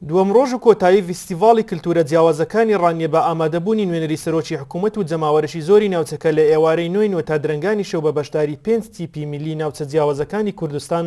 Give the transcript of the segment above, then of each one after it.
دووەم ڕۆژ و کۆتایی ڤیستیڤاڵی کلتوورە جیاوازەکانی ڕانیە بە ئامادەبوونی نوێنەری سەرۆکی حکوومەت و جەماوەرێکی زۆری ناوچەکە لە ئێوارەی نۆی نۆ تا درەنگانی شەو بە بەشداری پێنج تیپی میللی ناوچە جیاوازەکانی کوردستان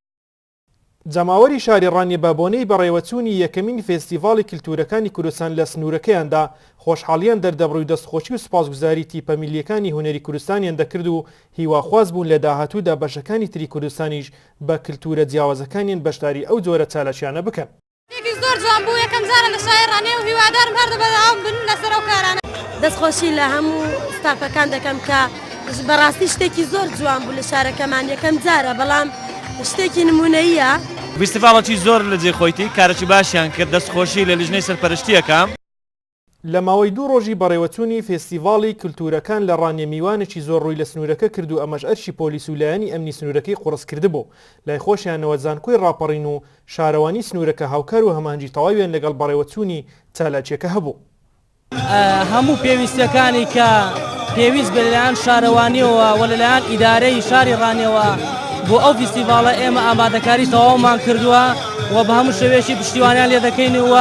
جەماوەری شاری ڕانیە بە بۆنەی بەڕێوەچوونی یەکەمین فێستیڤاڵی کلتوورەکانی کوردستان لە سنوورەکەیاندا خۆشحاڵییان دەردەبڕی و دەستخۆشی و سوپاسگوزاری تیپە میللیەکانی هونەری کوردستانیان دەکرد و هیواخواز بوون لە داهاتوودا بەشەکانی تری کوردستانیش بە کلتوورە جیاوازەکانیان بەشداری ئەو جۆرە چالاکییانە بکەن. ێکی زۆر جوان بوو یەکەم جارە لە شای ڕانێ و هیوادارم هەردە بەداوام بن لەسەر ئەو کارانە. دەستخۆشی لە هەموو ستافەکان دەکەم کە بەڕاستی شتێکی زۆر جوان بوو لە شارەکەمان یەکەم جارە بەڵام شتێکی نمونەییە. ویستڤاڵەکی زۆر لە جێ خۆیتی کارەکی باشیان کرد دەست خۆشی لە لیژنەی سەرپەرشتیەکە. لە ماوەی دوو ڕۆژی بەڕێوەچوونی فێستیڤاڵی کلتوورەکان لە ڕانیە میوانێکی زۆر ڕووی لە سنوورەکە کرد و ئەمەش ئەرکی پۆلیس و لایەنی ئەمنی سنوورەکەی قوڕس کردبوو لای خۆشیانەوە زانکۆی ڕاپەڕین و شارەوانی سنوورەکە هاوکار و هەماهەنگی تەواویان لەگەڵ بەڕێوەچوونی چالاکیەکە هەبوو. هەموو پێویستیەکانی کە پێویست بێت لەلایەن شارەوانیەوە و لەلایەن ئیدارەی شاری ڕانیەوە بۆ ئەو فیستیڤاڵە ئێمە ئامادەکاری تەواومان کردووە. و بە هەموو شێوەیەکی پشتیوانیان لێ دەکەین و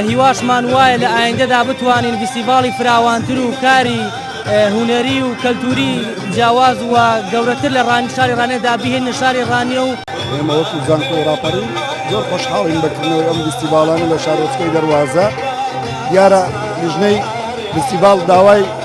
هیواشمان وایە لە ئایندەدا بتوانین ڤیستیڤاڵی فراوانتر و کاری هوەری و کەلتوری جیاواز و گەورەتر لە ڕانی شاری ڕانێدا بهێنە شاری ڕانیە و ئێمەوەکو زانکۆ ڕاپەری زۆر خۆشحاڵین بەکردنەوەی ئەم ڤیستیڤاڵانە لە شارۆچکەی دەواازە دیارە لیژنەی ڤیستیڤاڵ داوای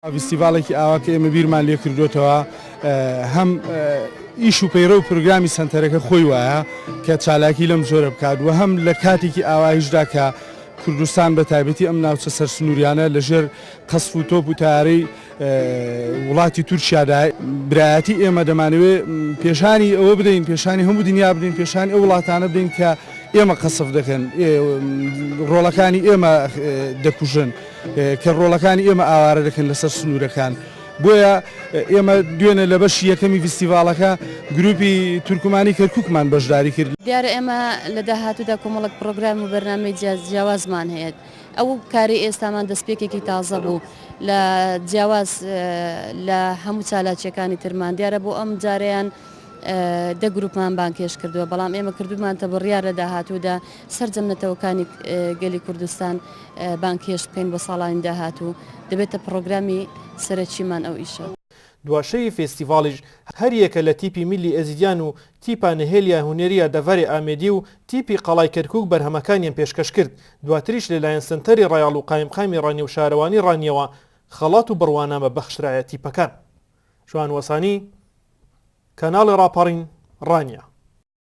فیستیڤاڵێکی ئاوا کە ئێمە بیرمان لێ کردووەتەوە هەم ئیش و پەیڕە و پرۆگرامی سەنتەرەکە خۆی وایە کە چالاکی لەم جۆرە بکات و هەم لە کاتێکی ئاوایشدا کە کوردستان بە تایبەتی ئەم ناوچە سەر سنووریانە لەژێر قەسف و تۆپ و تارەی وڵاتی تورکیادا برایەتی ئێمە دەمانەوێت پێشانی ئەوە بدەین پێشانی هەموو دنیا بدەین پێشانی ئەو وڵاتانە بدەین کە ئێمە قەسف دەکەن ڕۆڵەکانی ئێمە دەکوژن. کە ڕۆڵەکانی ئێمە ئاوارە دەکەن لەسەر سنوورەکان، بۆیە ئێمە دوێنێ لە بەشی یەکەمی ڤیستیڤاڵەکە گرووپی تورکمانی کەرکووکمان بەشداری کرد. دیارە ئێمە لە داهاتوودا کۆمەڵێک پڕۆگرام و بەرنامەی جیاوازمان هەیە، ئەو کارەی ئێستامان دەستپێکێکی تازە بوو لە جیاواز لە هەموو چالاکییەکانی ترمان، دیارە بۆ ئەم جارەیان دە گرووپمان بانگهێشت کردووە، بەڵام ئێمە کردوومانتە بڕیار لە داهاتوودا سەرجەم نەتەوەکانی گەلی کوردستان بانگهێشت بکەین بۆ ساڵانی داهاتوو، دەبێتە پڕۆگرامی سەرەکیمان ئەو ئیشە. دوا شەوی فێستیڤاڵیش هەر یەکە لە تیپی میللی ئێزیدیان و تیپا نهێلیا هونێریا دەڤەرێ ئامێدی و تیپی قەڵای کەرکووک بەرهەمەکانیان پێشکەش کرد، دواتریش لەلایەن سەنتەری ڕایەڵ و قایمقامی ڕانیە و شارەوانی ڕانیەوە خەڵات و بڕوانامە بەخشرایە تیپەکان. جوان وەسانی، کاناڵی ڕاپەڕین، ڕانیە.